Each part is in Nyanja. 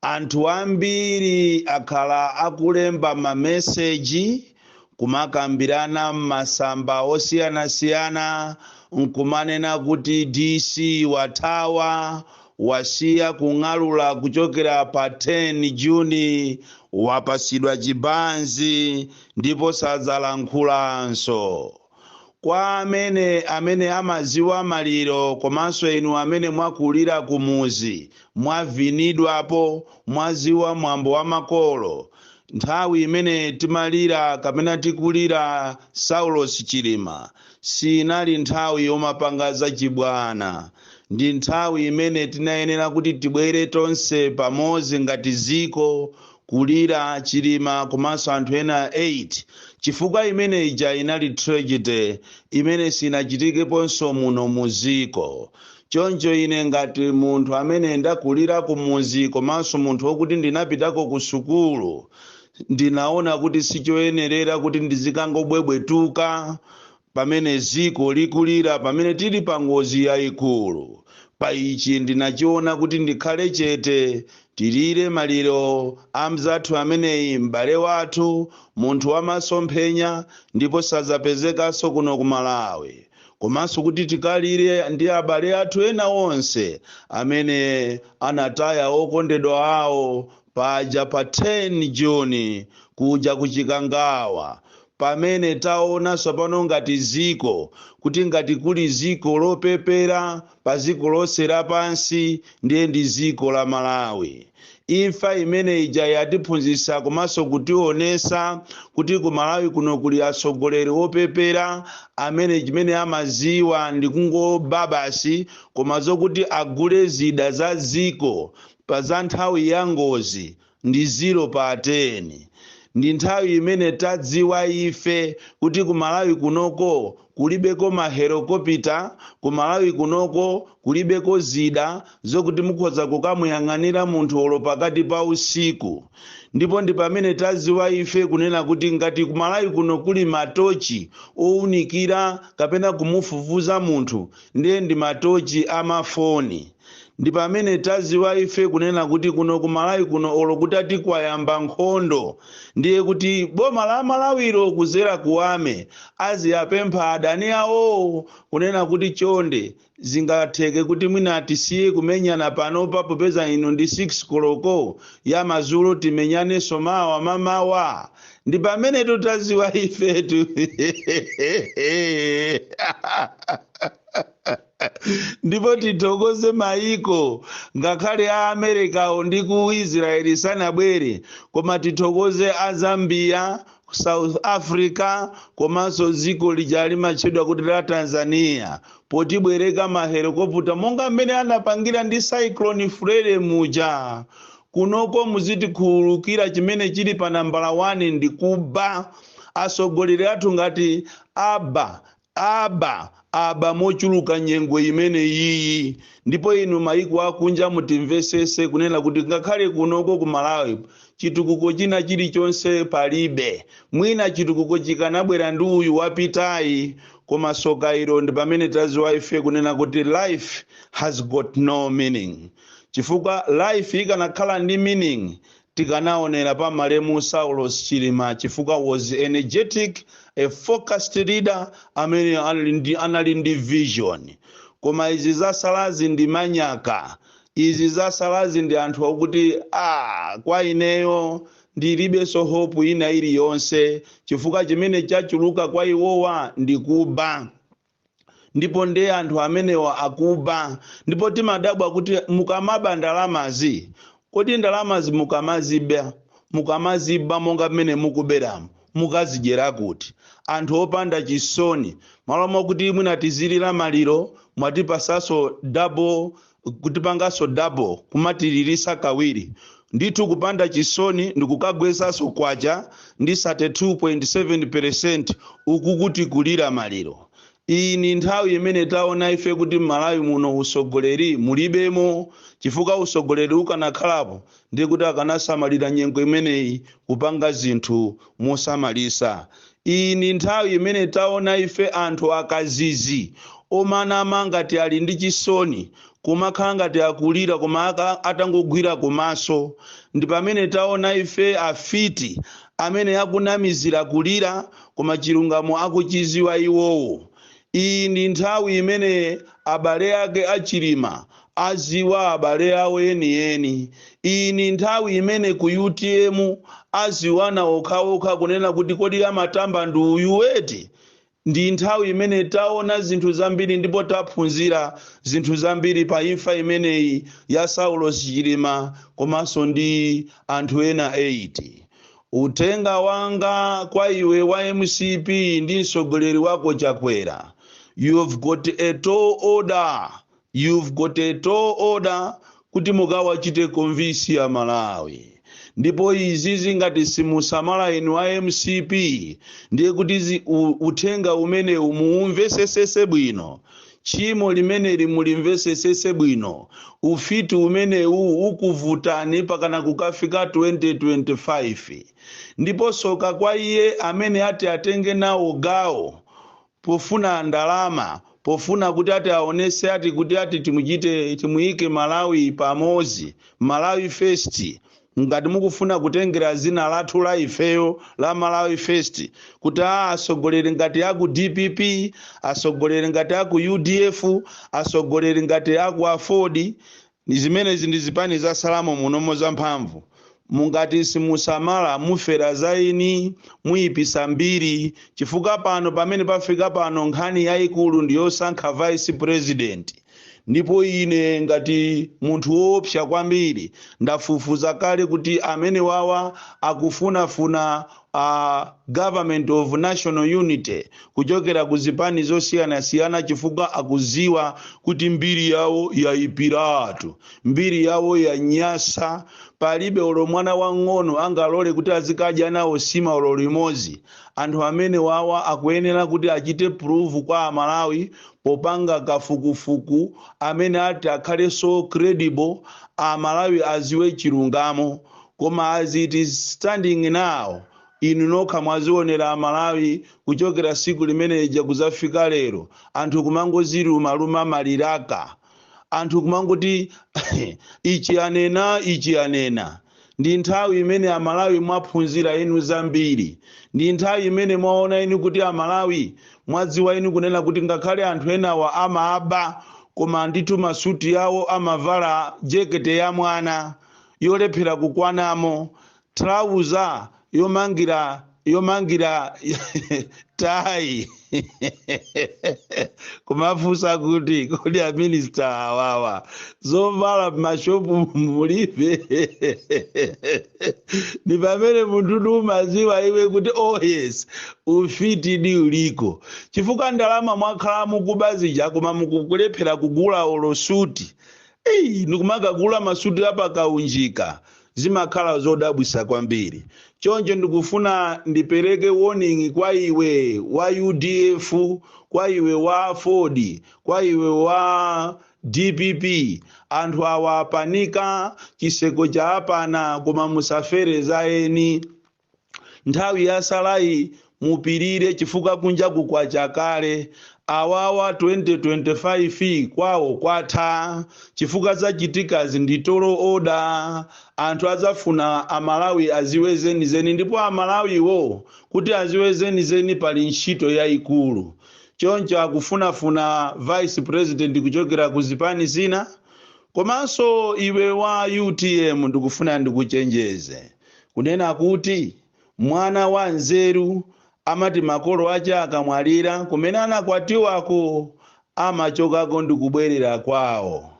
Anthu ambiri akhala akulemba mameseji, kumakambirana m'masamba osiyanasiyana n'kumanena kuti DC wathawa, wasiya kung'alula kuchokera pa 10 June, wapatsidwa chibanzi ndipo sadzalankhulanso. Kwa amene amene amaziwa maliro komanso inu amene mwakulira kumuzi mwavinidwapo mwaziwa mwambo wa makolo nthawi imene timalira kapena tikulira Saulos Chilima siinali nthawi yomapanga zachibwana ndi nthawi imene tinayenera kuti tibwere tonse pamodzi ngati ziko kulira chilima komanso anthu ena 8 chifukwa imene ija inali tragedy imene sinachitikeponso muno muziko choncho ine ngati munthu amene ndakulira kumuzi komanso munthu wokuti ndinapitako ku sukulu ndinaona kuti sichoyenerera kuti ndizikangobwebwetuka Pamene dziko likulira, pamene tili pa ngozi yaikulu, pa ichi ndinachiona kuti ndikhale chete, tilire maliro a mzathu ameneyi, m'bale wathu, munthu wa masomphenya, ndipo sadzapezekanso kuno ku Malawi, komanso kuti tikalire ndi abale athu ena onse amene anataya okondedwa awo paja pa 10 June kuja ku Chikangawa, Pamene taona tsapano ngati dziko, kuti ngati kuli dziko lopepera pa dziko lonse lapansi ndiye ndi dziko la Malawi. Imfa imene ija yatiphunzitsa komanso kutionetsa kuti ku Malawi kuno kuli atsogoleri opepera amene chimene amadziwa ndi kungoba basi koma zokuti agule zida za dziko pa za nthawi ya ngozi ndi ziro pa teni. Ndi nthawi imene tadziwa ife kuti ku Malawi kunoko kulibeko mahelikopita, ku Malawi kunoko kulibeko zida zokuti mukhoza kukamuyang'anira munthu olo pakati pa usiku. Ndipo ndi pamene tadziwa ife kunena kuti ngati ku Malawi kuno kuli matochi owunikira kapena kumufufuza munthu ndiye ndi matochi amafoni ndipamene taziwa ife kunena kuti kuno ku malawi kuno olo kutati kwayamba nkhondo ndiye kuti boma la amalawilo kuzera ku army aziwapempha adani awowo kunena kuti chonde zingatheke kuti mwina tisiye kumenyana panopa popeza ino ndi 6 koloko ya mazulo timenyanenso mawa mamawa ndi pamene tu taziwa ifetu ndipo tithokoze mayiko ngakhale a amerikawo ndi ku israeli sanabwere koma tithokoze a zambia south africa komanso dziko lija limatchedwa kuti la tanzania potibwereka mahelikoputa monga mmene anapangira ndi cyclone freddy muja Kunoko muzitikhululukira chimene chili pa nambala 1 ndi kuba. Atsogoleri athu ngati aba, aba, aba mochuluka nyengo imene iyi. Ndipo inu maiko akunja mutimvetsetse kunena kuti ngakhale kunoko ku Malawi chitukuko china chilichonse palibe. Mwina chitukuko chikanabwera ndi uyu wapitayi koma tsoka ilo ndipamene tadziwa ife kunena kuti life has got no meaning. chifukwa life ikanakhala ndi meaning tikanaonera pa malemu saulos chilima chifukwa was energetic a focused leader amene anali ndi vision koma izi zasalazi ndi manyaka izi zasalazi ndi anthu akuti ah, kwa ineyo ndilibenso hope ina iliyonse chifukwa chimene chachuluka kwa iwowa ndi kuba ndipo ndiye anthu amenewa akuba ndipo timadabwa kuti mukamaba ndalamazi kodi ndalamazi mukamaziba mukamaziba monga mmene mukuberamu mukazidyera kuti anthu opanda chisoni malo mwakuti mwina tizilira maliro mwatipasaso double kutipanganso double kumatilirisa kawiri ndithu kupanda chisoni ndikukagwetsanso kwacha ndi 32.7 percent uku tikulira maliro iyi ni nthawi imene taona ife kuti m'malawi muno usogoleri mulibemo chifukwa usogoleri ukanakhalapo ndi kuti akanasamalira nyengo imeneyi kupanga zinthu mosamalitsa iyi ndi nthawi imene taona ife anthu akazizi omanama ngati ali ndi chisoni kumakhala ngati akulira koma atangogwira kumaso ndi pamene taona ife afiti amene akunamizira kulira koma chilungamo akuchiziwa iwowo Iyi ndi nthawi imene abale ake a Chilima aziwa abale awo enieni. Iyi ndi nthawi imene ku utm aziwana okhaokha kunena kuti kodi amatamba ndi uyu eti? Ndi nthawi imene taona zinthu zambiri ndipo taphunzira zinthu zambiri pa imfa imeneyi ya Saulos Chilima komanso ndi anthu ena 8. Uthenga wanga kwa iwe wa mcp ndi mtsogoleri wako Chakwera you've got a tall order you've got a tall order kuti mukawachite convince a Malawi ndipo izizi ngati simusamala inu a mcp ndiye kuti zi, u, uthenga umenewu muumvesesese bwino Tchimo limeneli mulimvesesese bwino. Ufiti umenewu ukuvutani pakana kukafika 2025. Ndipo soka kwa iye amene ati atenge nawo gawo pofuna ndalama pofuna kuti ati aonese ati kuti ati timuchite timuyike Malawi pamozi, Malawi first. Ngati mukufuna kutengera zina lathu la ifeyo la Malawi First kuti a atsogoleri ngati aku dpp, atsogoleri ngati aku udf, atsogoleri ngati aku aford, zimenezi ndi zipani zatsalamo munomo za mphamvu, ngati simusamala mufera za eni, muyipisa mbiri chifukwa pano pamene pafika pano nkhani yayikulu ndi yosankha vice president. ndipo ine ngati munthu woopsa kwambiri ndafufuza kale kuti amene wawa akufunafuna a government of national unity kuchokera ku zipani zosiyanasiyana chifukwa akuziwa kuti mbiri yawo yaipiratu mbiri yawo yanyasa palibe olo mwana wang'ono angalole kuti azikadya nawo sima olo limodzi Anthu amene wawa akuyenera kuti achite prove kwa amalawi popanga kafukufuku amene ati akhale so credible amalawi aziwe chilungamo koma as it is standing now inu nokha mwazionera amalawi kuchokera siku limene lija kuzafika lero anthu kumangoziluma luma maliraka anthu kumangoti ichi anena ichi anena ndi nthawi imene amalawi mwaphunzira inu zambiri ndi nthawi imene mwaona inu kuti amalawi mwadziwa inu kunena kuti ngakhale anthu enawa amaaba koma ndithu masuti yawo amavala jekete ya mwana yolephera kukwanamo thalauza yomangi yomangira tayi kumafunsa kuti kodi aminista awawa zovala mmashopu mulibe ni pamene munthu umaziwa iwe kuti oh yes ufitidi uliko chifukwa ndalama mwakhala mukuba zija koma mukukulephera kugula olo suti ndikumakagula masuti apakaunjika zimakhala zodabwisa kwambiri choncho ndikufuna ndipereke warning kwa iwe wa udf kwa iwe wa aford kwa iwe wa dpp anthu awa apanika chiseko chaapana koma musafere za eni nthawi yatsalayi mupirire chifukwa kunjaku kwacha kale awawa 2025 kwawo kwatha chifukwa zachitikazi ndi tall order anthu adzafuna a malawi aziwe zenizeni ndipo amalawiwo kuti adziwe zenizeni pali ntchito yayikulu choncho akufunafuna vice president kuchokera ku zipani zina komanso iwe wa utm ndikufuna ndikuchenjeze kunena kuti, Mwana wanzeru amati makolo ache akamwalira, kumene anakwatiwako amachokako ndi kubwerera kwawo.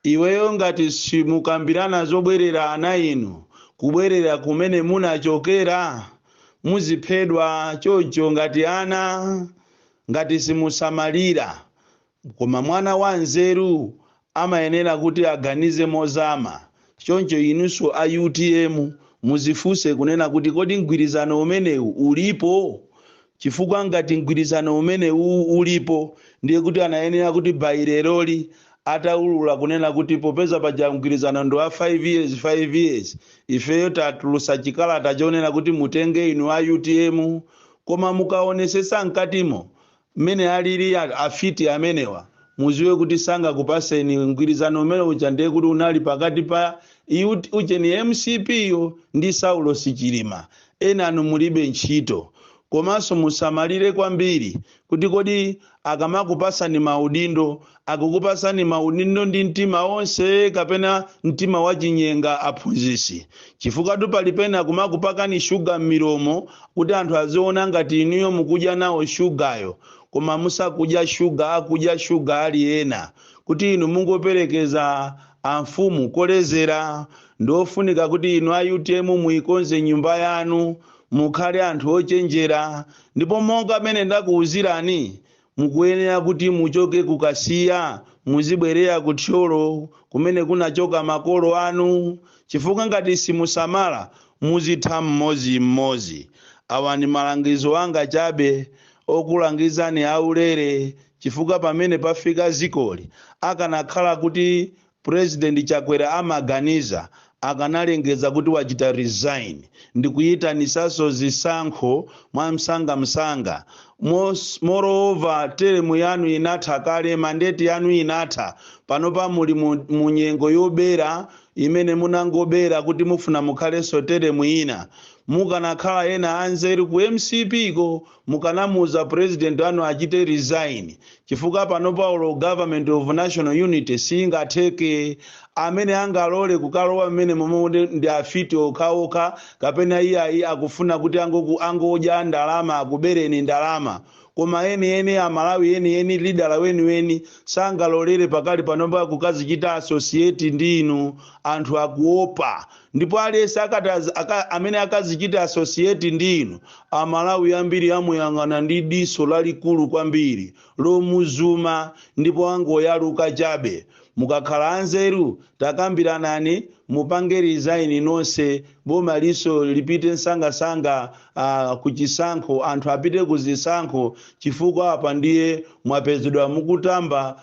Iweyo ngati simukambirana zobwerera ana inu kubwerera kumene munachokera, muziphedwa choncho ngati ana ngati simusamalira Koma mwana wanzeru amayenera kuti aganize mozama, choncho inunso a utm muzifunse kunena kuti kodi mgwirizano umenewu ulipo? Chifukwa ngati mgwirizano umenewu ulipo ndiye kuti anayenera kuti by leroli ataulula kunena kuti popeza paja mgwirizano ndi wa 5 years ifeyo tatulutsa chikalata chonena kuti mutenge inu a utm. Koma mukaonesetsa mkatimo mmene alili afiti amenewa mudziwe kuti sangakupatseni mgwirizano umene uja ndiye kuti unali pakati pa iut ujeni mcp yo ndi saulosi chilima enanu mulibe ntchito komanso musamalire kwambiri kuti kodi akamakupatsani maudindo akukupatsani maudindo ndi mtima onse kapena mtima wachinyenga aphunzitsi chifukwatu pali pena kumakupakani shuga m'milomo kuti anthu aziona ngati inuyo mukudya nawo shugayo koma musakudya shuga akudya shuga ali ena kuti inu mungoperekeza amfumu kolezera ndi ofunika kuti inu a utm muikonze nyumba yanu mukhale anthu ochenjera ndipo monga mmene ndakuwuzirani Mukuyenera kuti muchoke ku Kasiya muzibwerera ku Thyolo kumene kunachoka makolo anu chifukwa ngati simusamala muzitha mmodzi mmodzi. Awa ndi malangizo anga chabe okulangizani aulere chifukwa pamene pafika dzikoli akanakhala kuti President Chakwera amaganiza akanalengeza kuti wachita resign ndikuyitanisaso zisankho mwamsanga msanga moreover term yanu inatha kale mandate yanu inatha panopa muli mu mu nyengo yobera imene munangobera kuti mufuna mukhaleso term ina mukanakhala ena anzeru ku mcp ko Mukanamuuza president anu achite resign chifukwa panopa olo government of national unity siingatheke. Amene angalole kukalowa mmenemomo ndi afiti okhaokha kapena iyayi akufuna kuti angoku angodya ndalama akubereni ndalama. Koma enieni a Malawi enieni leader weniweni sangalolere pakali panopa kukazichita associate ndi inu. Anthu akuopa. ndipo aliyense akati az- aka- amene akazichite associate ndi inu amalawi ambiri amuyang'ana ndi diso lalikulu kwambiri lomuzuma ndipo angoyaluka chabe mukakhala anzeru takambiranani mupange resign nonse boma liso lipite msangamsanga uh, kuchisankho anthu apite kuzisankho chifukwa apa ndiye mwapezedwa mukutamba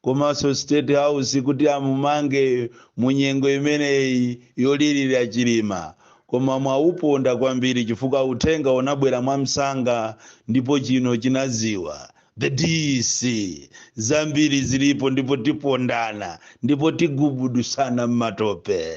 komanso state house kuti amumange mu nyengo imeneyi yolirira chilima koma mwauponda kwambiri chifukwa uthenga unabwera mwamsanga ndipo chino chinaziwa the dc zambiri zilipo ndipo tipondana ndipo tigubudusana m'matope